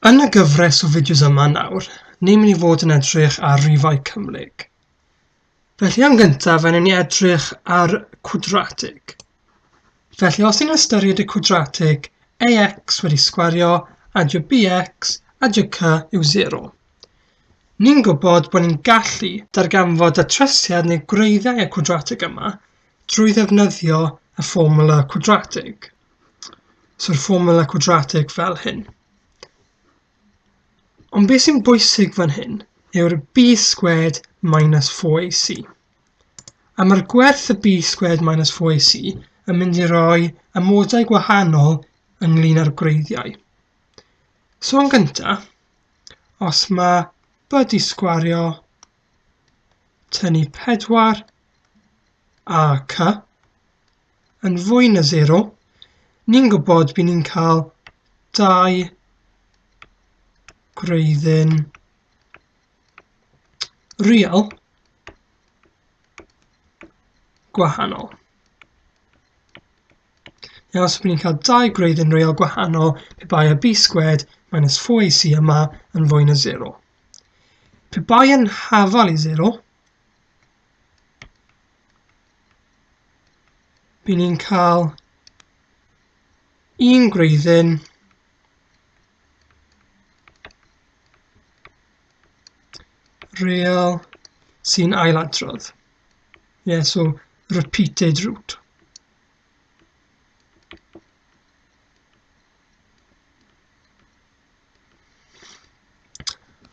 Yn y gyfres o fideos yma nawr, ni'n mynd i fod yn edrych ar rifau cymhlyg. Felly yn gyntaf, yn ni edrych ar cwdratig. Felly os ni'n ystyried y cwdratig ax wedi sgwario a dy bx a dy cy yw 0, ni'n gwybod bod ni'n gallu darganfod y tresiad neu gwreiddiau y cwdratig yma drwy ddefnyddio y fformwla cwdratig. So yr formula quadratic fel hyn. Ond beth sy'n bwysig fan hyn yw'r b squared minus 4ac. A mae'r gwerth y b squared minus 4ac yn mynd i roi amodau gwahanol ynglyn â'r gwreiddiau. So yn gyntaf, os mae byd i sgwario tynnu 4 a c, yn fwy na 0, ni'n gwybod bydd ni'n cael 2 gwreiddyn real gwahanol. Iawn, so bydd ni'n cael dau gwreidd yn real gwahanol pe bai y b sgwed minus 4ac yma yn fwy na 0. Pe bai yn hafal i 0, By ni'n cael un gwreiddyn real sy'n ailadrodd. Yeah, so repeated root.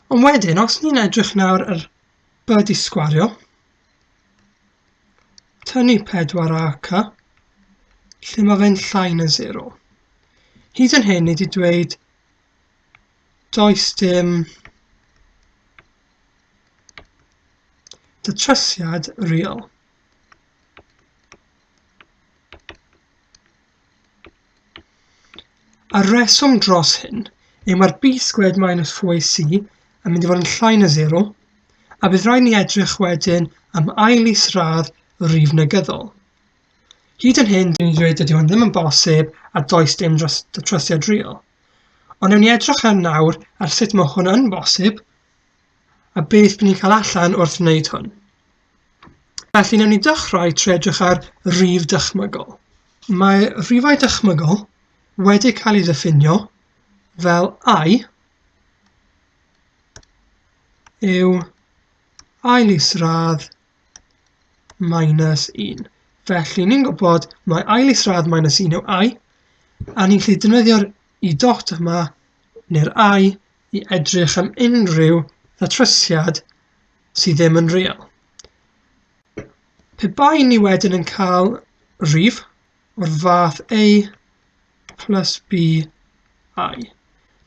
Ond wedyn, os ni'n edrych nawr ar byd i sgwario, Tynnu pedwar a ca. Lle mae fe'n llai na 0. Hyd yn hyn, ni wedi dweud does dim datrysiad real. A'r reswm dros hyn yw mae'r byd sgwed minus 4AC yn mynd i fod yn llai na 0, a bydd rhaid ni edrych wedyn am ail is-radd rif negyddol. Hyd yn hyn, dyn ni'n dweud dydy hwn ddim yn bosib a does dim dros y trosiad real. Ond newn ni edrych yn nawr ar sut mae hwn yn bosib a beth bydd ni'n cael allan wrth wneud hwn. Felly, newn ni dechrau trwy edrych ar rif dychmygol. Mae rhifau dychmygol wedi cael ei ddiffinio fel i yw ail isradd minus 1. Felly, ni'n gwybod mae ail isradd minus 1 yw i, a ni'n gallu defnyddio'r i dot yma neu'r i i edrych am unrhyw ddatrysiad sydd ddim yn real. Pe bai ni wedyn yn cael rif o'r fath A plus B I,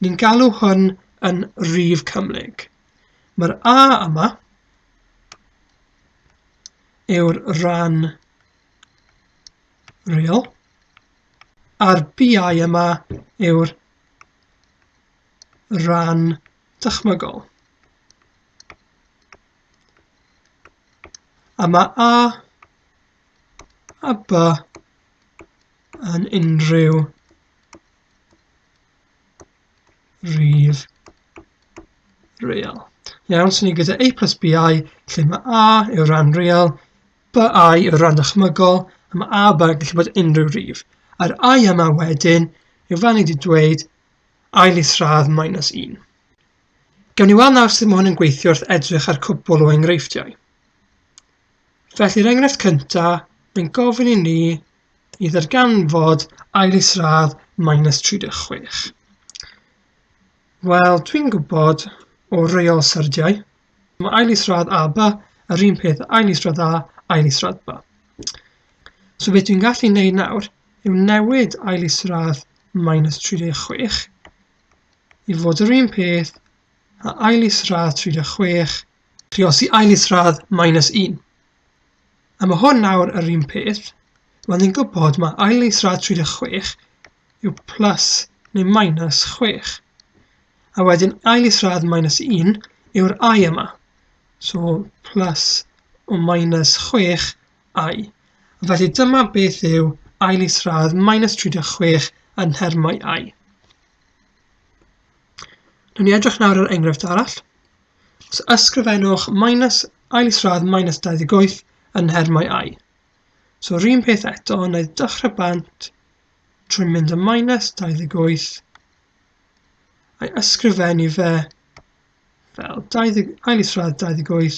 ni'n galw hwn yn rif cymhlyg. Mae'r A yma yw'r rhan real a'r BI yma yw'r rhan dychmygol. A mae A a B yn unrhyw rif real. Iawn, so ni gyda A plus BI, lle mae A yw'r rhan real, BI yw'r rhan dychmygol, a mae A B yn gallu bod unrhyw rif. A'r I yma wedyn, yw fan i wedi dweud, ail isradd minus un. Gawn ni weld nawr sut mae hwn yn gweithio wrth edrych ar cwbl o enghreifftiau. Felly'r enghraifft cyntaf, mae'n gofyn i ni i ddarganfod ail isradd minus 36. Wel, dwi'n gwybod o reol syrdiau, mae ail isradd a ba yr un peth ail isradd a ail isradd ba. So beth dwi'n gallu wneud nawr yw newid ail isradd minus 36 i fod yr un peth a ail isradd 36, triosi ail isradd minus 1. A mae hwn nawr yr un peth, mae'n ni'n gwybod mae ail isradd 36 yw plus neu minus 6. A wedyn ail isradd minus 1 yw'r i yma. So plus o minus 6 I. Felly dyma beth yw ail isradd minus 36 yn nhermau I. Rwy'n ni edrych nawr ar enghraifft arall. Os ysgrifennwch minus ail isradd minus 28 yn nhermau i. So yr un peth eto, neu dechrau bant trwy mynd y minus 28 a'i ysgrifennu fe fel 20, ail isradd 28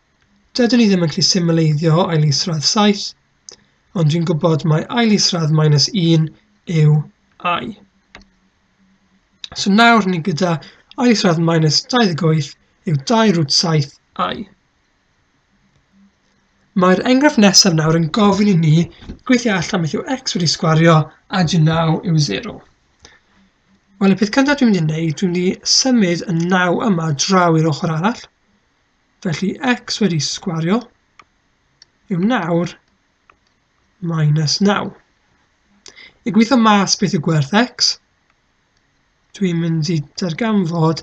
Dydw ni ddim yn gallu symleiddio ail isradd 7, ond dwi'n gwybod mae ail isradd minus 1 yw i. So nawr ni gyda ail isradd minus 28 yw 2 rwt 7 i. Mae'r enghraifft nesaf nawr yn gofyn i ni gweithio allan beth yw x wedi sgwario a dy naw yw 0. Wel, y peth cyntaf dwi'n mynd i wneud, dwi'n mynd i symud y naw yma draw i'r ochr arall, Felly x wedi sgwario yw nawr minus 9. I gweithio mas beth yw gwerth x, dwi'n mynd i darganfod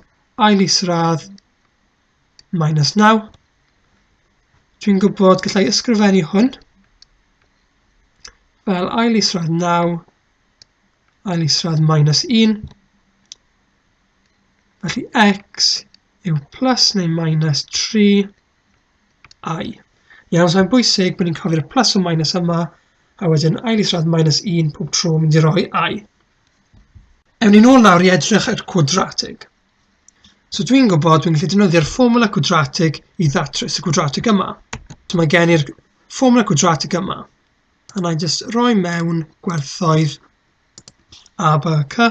ail isradd minus 9. Dwi'n gwybod gallai ysgrifennu hwn fel ail isradd 9, ail isradd minus 1. Felly x yw plus neu minus 3 i. Iawn, so'n bwysig bod ni'n cofio'r plus o minus yma, a wedyn ail isradd minus 1 pob tro mynd i roi i. Ewn ni'n ôl nawr i edrych ar cwadratig. So dwi'n gwybod dwi'n gallu defnyddio'r fformula cwadratig i ddatrys y cwadratig yma. So mae gen i'r fformula cwadratig yma. A na i jyst roi mewn gwerthoedd a b c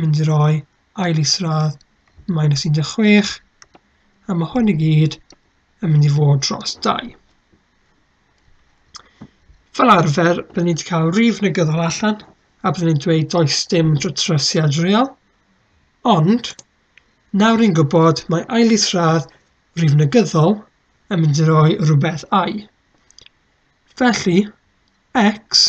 mynd i roi ail isradd minus 16 a mae hwn i gyd yn mynd i fod dros 2. Fel arfer, byddwn ni'n cael rif negyddol allan a byddwn ni'n dweud does dim drosiad real, ond nawr ni'n gwybod mae ail isradd rif negyddol yn mynd i roi rhywbeth i. Felly, x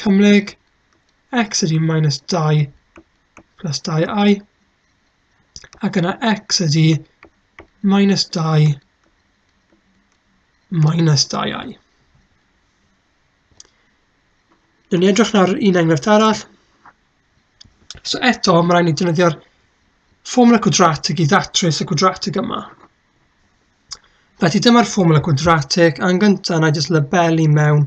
cymhlyg x ydy minus 2 plus 2i, ac yna x ydy minus 2 minus 2i. Dwi'n ni edrych nawr un enghraifft arall. So eto, mae rhaid ni defnyddio'r ffomwla gwadratig i ddatrys y gwadratig yma. Felly dyma'r ffomwla gwadratig, a'n gyntaf na jyst labelu mewn